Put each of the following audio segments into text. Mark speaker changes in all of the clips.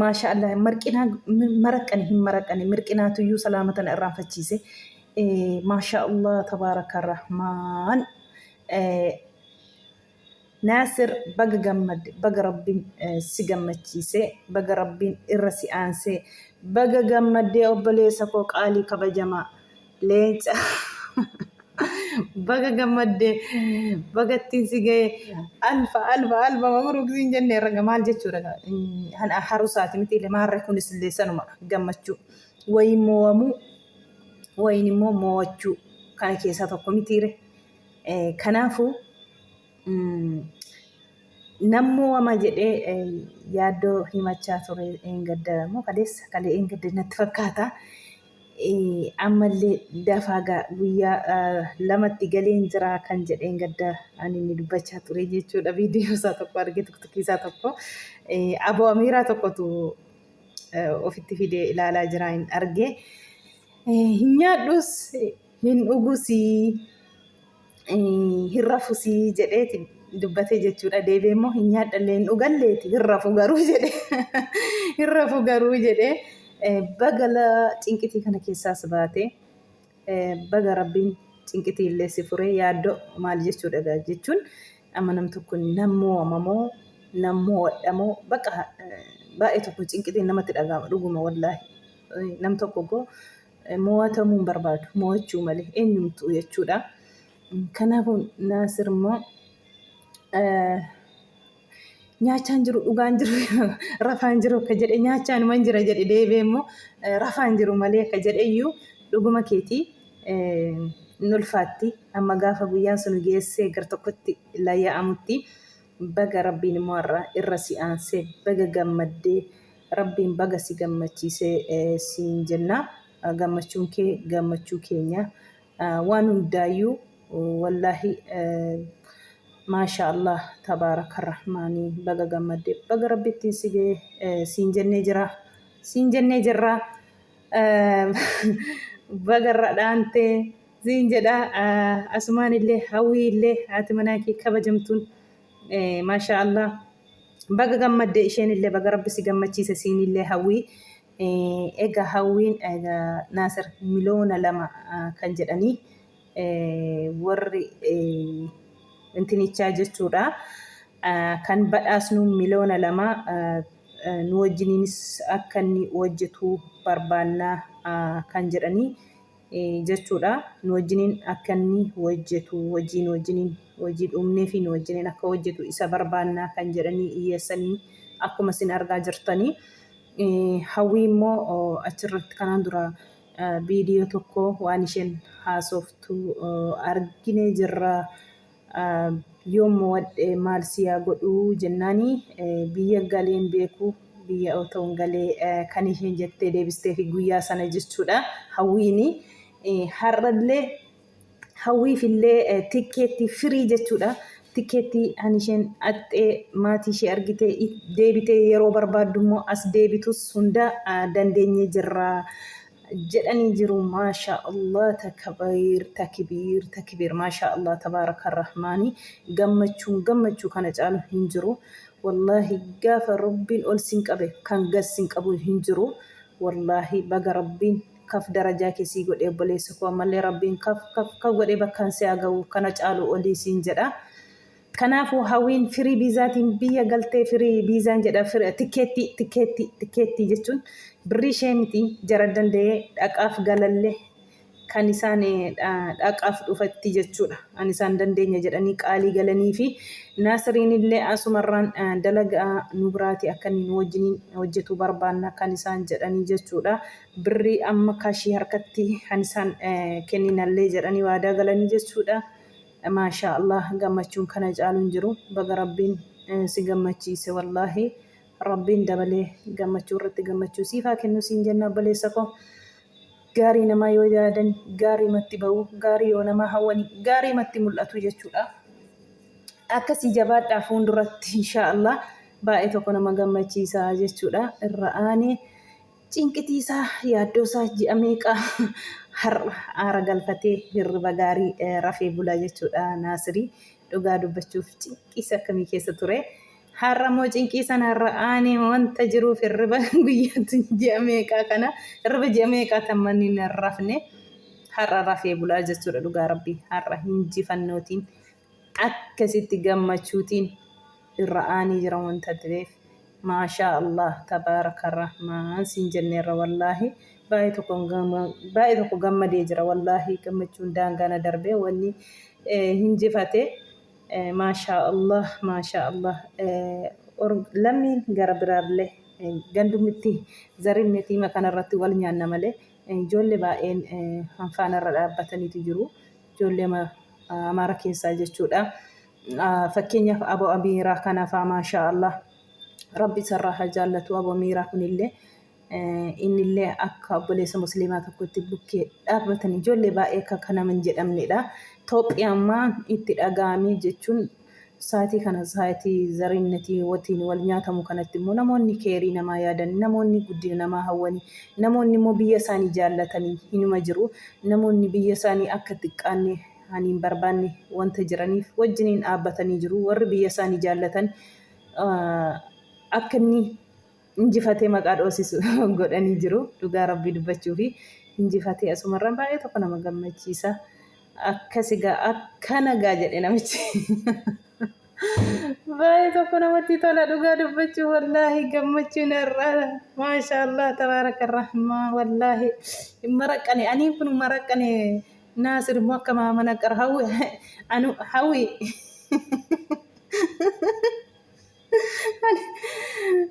Speaker 1: Maashaallah marqinaa maraqqani hin maraqqani mirqinaatu iyyuu salaama tana irraanfachiise maashaallah tabaaraka rahmaan naasir baga gammadde baga rabbiin si gammachiise baga rabbiin irra si aansee baga gammaddee obboleessa koo qaalii kabajamaa Leenca baga gammadde baga ittiin si ga'e alfa alfa alfa mabruk siin jenne raga maal jechuudha kana harusaati miti lamaarra kunis illee sanuma gammachuu wayin mo'amuu wayin immoo mo'achuu kana keessaa tokko mitiire kanaafuu Nammoo wama jedhee yaaddoo himachaa ture eengadda moo kaleessa kalee eengadda natti fakkaata. Ammallee dafaa gaa guyyaa lamatti galeen jiraa kan jedhe eengadda ani inni dubbachaa ture jechuudha viidiyoo isaa tokko argee tiktikii isaa tokko aboo amiiraa tokkotu ofitti fidee ilaalaa jiraa hin argee hin nyaadhus hin dhugusii hin rafusii jedheeti dubbatee jechuudha. Deebi'ee immoo hin nyaadhallee hin dhugalleeti hin rafu garuu jedhe hin rafu garuu jedhe bagala cinqitii kana keessaas baate baga rabbiin cinqitii illee si fure yaaddoo maal jechuudha egaa jechuun amma nam tokko nam mo'amamoo nam mo'adhamoo baqa baay'ee tokko cinqitiin namatti dhaga'ama dhuguma wallaahi nam tokko goo Moo'atamuu hin barbaadu. Moo'achuu malee eenyumtuu jechuudha. Kanaafuu Naasir immoo nyaachaan jiru dhugaan jiru rafaan jiru akka jedhe nyaachaan man jira jedhe deebee immoo rafaan jiru malee akka jedhe iyyuu dhuguma keetii hin ulfaatti amma gaafa guyyaan sun geessee gar tokkotti layya'amutti baga rabbiin immoo irra si aansee baga gammaddee Rabbiin baga si gammachiise siin jenna. Gammachuun kee gammachuu keenya. Waan hundaayyuu wallaahi maashaa Allah tabaaraka rahmaani baga gammadde baga rabbi ittiin si ga'e siin jennee jira siin jennee jirra baga irra dhaante siin jedha asumaan illee hawwii illee haati manaa kee kabajamtuun Maashaa Allah baga gammadde isheenillee baga rabbi si gammachiise siinillee hawwii ega hawwiin naasir miloona lama kan jedhanii warri intinichaa jechuudha kan badhaasnu miloona lama nu wajjiniinis akka inni hojjetu barbaannaa kan jedhanii jechuudha nu wajjiniin akka inni hojjetu hojii nu wajjiniin hojii dhumnee fi nu wajjiniin akka hojjetu isa barbaannaa kan jedhanii iyyeessanii akkuma isin argaa jirtanii hawwii immoo achirratti kanaan dura viidiyoo tokko waan isheen haasoftu arginee jirra. Yoon mo'adhe maal si yaa godhu jennaan biyya galee hin beeku biyya otoon galee kan isheen jettee deebisteefi guyyaa sana jechuudha hawwiin har'allee hawwiifillee tikkeettii firii jechuudha tikkeettii an isheen dhaqxee maatii ishee argitee deebitee yeroo barbaaddu immoo as deebitus hundaa dandeenyee jirra. jedhanii jiru maasha Allah takabiir takibiir takibiir maasha Allah tabaaraka rahmaani gammachuun gammachuu kana caalu hin jiru wallaahi gaafa rabbiin ol sin qabe kan gad sin qabu hin jiru wallaahi baga rabbiin kaf darajaa kee sii godhe obboleessa koo ammallee rabbiin kaf kaf kaf godhee bakkaan si haa ga'u kana caalu olii siin jedha Kanaafuu Hawwiin firii biizaatiin biyya galtee firii biizaan jedha firi tikkeettii tikkeettii tikkeettii jechuun birrii ishee miti jara danda'ee dhaqaaf galalle kan isaan dhaqaaf dhufatti jechuudha an isaan dandeenya jedhanii qaalii galanii fi naasiriin illee asumarraan dalaga nu biraati akka inni nu wajjiniin hojjetuu barbaanna kan isaan jedhanii jechuudha birrii amma kashii harkatti kan isaan kenninallee jedhanii waadaa galanii jechuudha Maashaa Allaah gammachuun kana caalu hin jiru baga rabbiin si gammachiise wallaahi rabbiin dabalee gammachuu irratti gammachuu siif haa kennu siin jenna obboleessa koo gaarii namaa yoo yaadan gaarii matti ba'u gaarii yoo namaa hawwani gaarii matti mul'atu jechuudha akkasii jabaadhaa fuulduratti inshaa Allaah baay'ee tokko nama gammachiisa jechuudha irra aanee Cinqitiisaa, yaaddoosaa ji'a meeqa har'a aara galfatee hirriba gaarii rafee bula jechuudha Naasiri. Dhugaa dubbachuuf cinqiisa akkamii keessa ture. Har'a immoo cinqii sanarra aanee wanta jiruuf hirriba guyyaatti ji'a meeqaa kana hirriba ji'a meeqaa tan manni hin rafne har'a rafee bulaa jechuudha dhugaa rabbii har'a hinjifannootiin akkasitti gammachuutiin irra aanii jira wanta ta'eef maashaa allah tabaaraka arrahmaan siin jenneerra wallaahi baay'ee tokko baay'ee tokko gammadee jira wallaahi gammachuun daangaa na darbee wanni hin jifate maashaa allah maashaa allah lammiin gara biraallee gandumitti zarin mitiima kanarratti wal nyaanna malee ijoollee baay'een hanfaanarra dhaabbataniitu jiru. ijoollee amaara keessaa jechuudha. Fakkeenyaaf aboo amiiraa kanafaa maashaa Allah rabbi isarraa haa jaallatu aboo amiiraa kunillee innillee akka obboleessa musliimaa tokkotti bukkee dhaabbatan ijoollee baay'ee akka kana hin jedhamnedha. Toophiyaa ammaa itti dhaga'amee jechuun Sa'atii kana sa'atii zariinnatii watiin wal nyaatamu kanatti immoo namoonni keeyrii namaa yaadan, namoonni guddina namaa hawwani, namoonni immoo biyya isaanii jaallatani hinuma jiru. Namoonni biyya isaanii akka xiqqaanne ani hin barbaanne wanta jiraniif wajjiniin dhaabbatanii jiru. Warri biyya isaanii jaallatan akka inni. injifatee maqaa dhoosisu godhanii jiru dhugaa rabbii dubbachuufi injifatee asumarraan baay'ee tokko nama gammachiisa akkasi gaa akkana gaa jedhe namichi baay'ee tokko namatti tola dhugaa dubbachuu wallaahi gammachuun irraa maashaallah tabaaraka rahmaa wallaahi hin maraqqane anii kun maraqqane naasir immoo akka maamana qara hawwi anu hawwi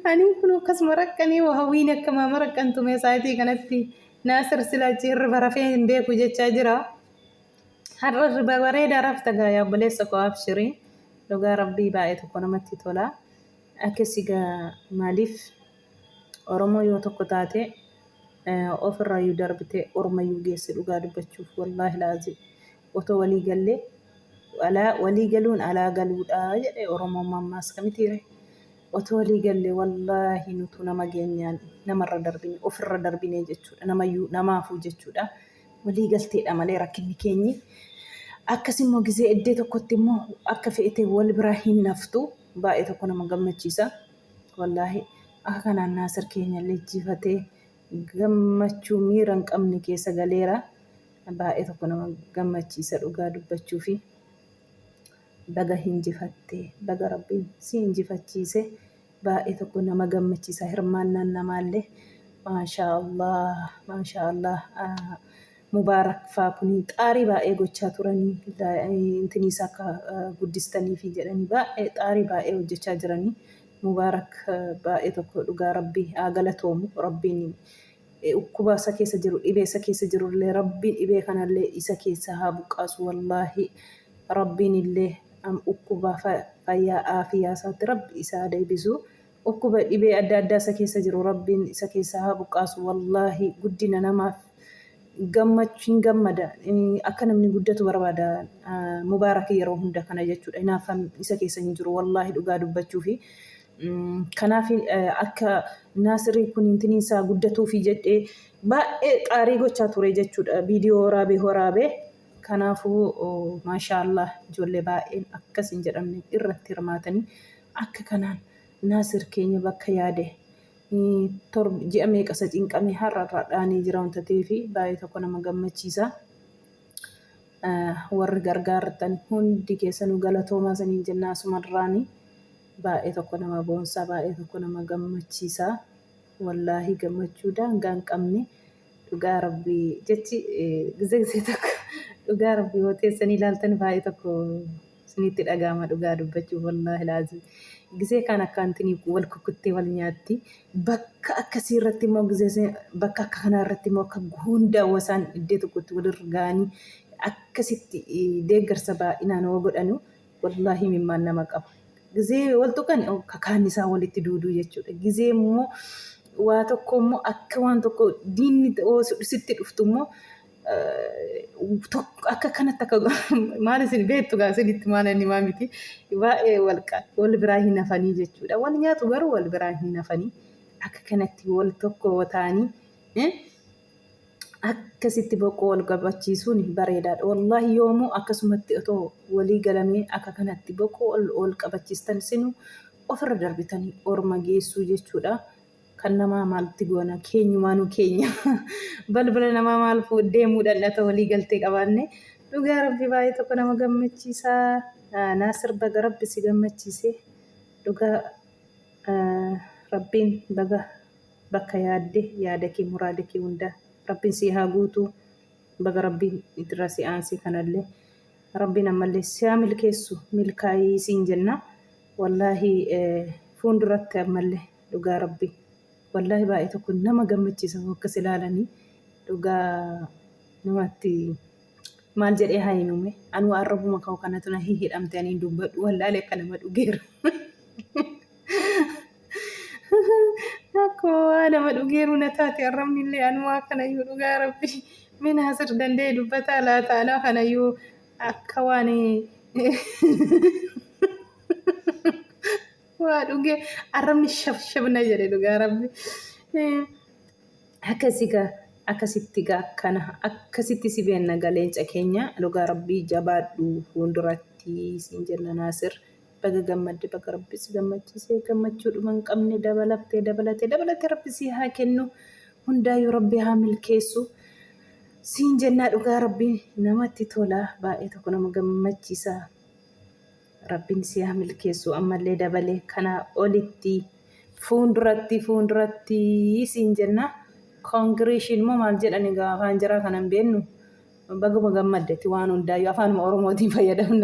Speaker 1: Ani kun akkasuma rakkanii hawwiin akkamaa maraqqantu meesaayitii kanatti naasir sila achi hirriba rafee hin beeku jechaa jira. Har'a hirriba bareedaa rafta gaa yaa obboleessa koo abshirii dhugaa rabbii baay'ee tokko namatti tola. Akkasii gaa maaliif Oromoo yoo tokko taate ofirraayyuu darbitee ormayyuu geessi dhugaa dubbachuuf wallaahi laazim. Otoo walii gallee alaa walii galuun alaa galuudha jedhe oromoon mammaaska mitiiree? Otoo walii gallee wallaahi nutuu nama geenyaan namarra darbine ofirra darbinee jechuudha namayyuu namaafuu jechuudha walii galteedha malee rakkinni keenyi akkasimmoo gizee eddee tokkotti immoo akka feete wal biraa hin naftu baay'ee tokko nama gammachiisa wallaahi akka kanaan naasir keenya lejjifatee gammachuu miira hin qabne keessa galeera. Baay'ee tokko nama gammachiisa dhugaa dubbachuufi. Baga hinjifatte, baga Rabbiin si injifachiise. Baay'ee tokko nama gammachiisa hirmaannaan namaallee. Maashaa Allah, maashaa Allah. Ah, Mubaarak faa kuni xaarii baay'ee gochaa turanii la- eh, intiniisa akka eh, guddistaniifi jedhanii baay'ee xaarii baay'ee hojjechaa jiranii. Mubaarak eh, baay'ee tokko dhugaa Rabbii haa galatoomu. Rabbiin Ukkuba isa keessa jiru dhibee isa keessa jirullee rabbiin dhibee kanallee isa keessaa haa buqqaasu wallaahi rabbiinillee ukkuba fayyaa aafiyaa isaatti rabbi isa haa deebisu ukkuba dhibee adda addaa isa keessa jiru rabbiin isa keessaa haa buqqaasu wallaahi guddina namaaf gammach hin gammada akka namni guddatu barbaada mubaarak yeroo hunda kana jechuudha hinaaffaan isa keessa hin jiru wallaahi dhugaa dubbachuufi Kanaaf akka naasirri kun intiniin isaa guddatuufi jedhee baay'ee xaarii gochaa ture jechuudha. Viidiyoo waraabee waraabee. Kanaafuu maashaallah ijoollee baay'een akkas hin jedhamne irratti hirmaatanii akka kanaan naasir keenya bakka yaade ji'a meeqa isa cinqamee har'a irraa dhaanee jira wanta ta'eef baay'ee tokko nama gammachiisa. Warri gargaartan hundi keessanuu galatoomaa isiniin jennaa asumarraanii. Baay'ee tokko nama boonsaa baay'ee tokko nama gammachiisaa wallaahii gammachuu daangaa hin qabne dhugaa rabbii jechi gizee gizee tokko dhugaa rabbii yoo teessanii ilaaltan baay'ee tokko isinitti dhagaama dhugaa dubbachuuf wallaahi laazii gizee kaan akkaantinii wal kukuttee wal nyaatti bakka akkasii irratti immoo gizee bakka akka kanaa irratti immoo akka hundaawwa isaan iddee tokkotti walirra ga'anii akkasitti deeggarsa baay'inaan yoo godhanu Wallahi imimmaan nama qaba. Gizee wal tuqani oh, ka kaanni isaa walitti duuduu jechuudha. Gizee immoo waa tokko immoo akka waan tokko diinni oo sitti dhuftu immoo eh, tokko akka kanatti akka maal isin beektu gaa isinitti maal inni maa miti baay'ee wal qa- wal biraa hin hafanii jechuudha. Wal nyaatu garuu wal biraa hin hafanii akka kanatti wal tokko yoo ta'anii eh, akkasitti boqqoo wal qabachiisuun bareedaadha. Wallaahi yoomuu akkasumatti otoo walii galamee akka kanatti boqqoo wal qabachiistan sinu ofirra darbitanii orma geessuu jechuudha. Kan namaa maalti goona keenyumaanuu keenya balbala namaa maal deemuudhaan dhata walii galtee qabaanne dhugaa rabbi baay'ee tokko nama gammachiisa. Naasir baga rabbi si gammachiise dhugaa rabbiin baga bakka yaadde yaada kee muraada kee hundaa rabbiin sii haa guutuu baga rabbiin itirra si aansee kanallee rabbiin ammallee siyaa milkeessu milkaayii siin jenna wallaahi fuunduratti ammallee dhugaa rabbii wallaahi baay'ee tokko nama gammachiisa hoo akkas ilaalanii dhugaa namatti Maal jedhee haa himume anuu arrabuma koo kanatu na hihidhamte aniin dubbadhu wallaale akka nama dhugeera. Akkuma waa nama dhugeeru na taate arrabni illee anuu akkanayyuu dhugaa rabbi mee naasir danda'e dubbataa laata anoo kanayyuu akka waan Waa dhugee arrabni shab shab na jedhe dhugaa rabbi. Akkasi gaa akkasitti gaa akkana akkasitti si beenna gaa leenca keenya dhugaa rabbii jabaadhu fuulduratti siin jenna Naasir. Baga gammadde baga rabbi si gammachiise gammachuu dhuma hin qabne dabalattee dabalatee dabalatee rabbi si haa kennu hundaayyuu rabbi haa milkeessu siin jennaa dhugaa rabbi namatti tola baay'ee tokko nama gammachiisa. Rabbin sii haa milkeessuu ammallee dabalee kanaa olitti fuunduratti fuunduratti siin jenna congration moo maal jedhan egaa afaan jaraa kanan beennu baguma gammadde ati waan hundaayyuu afaanuma oromootiin fayyadamna.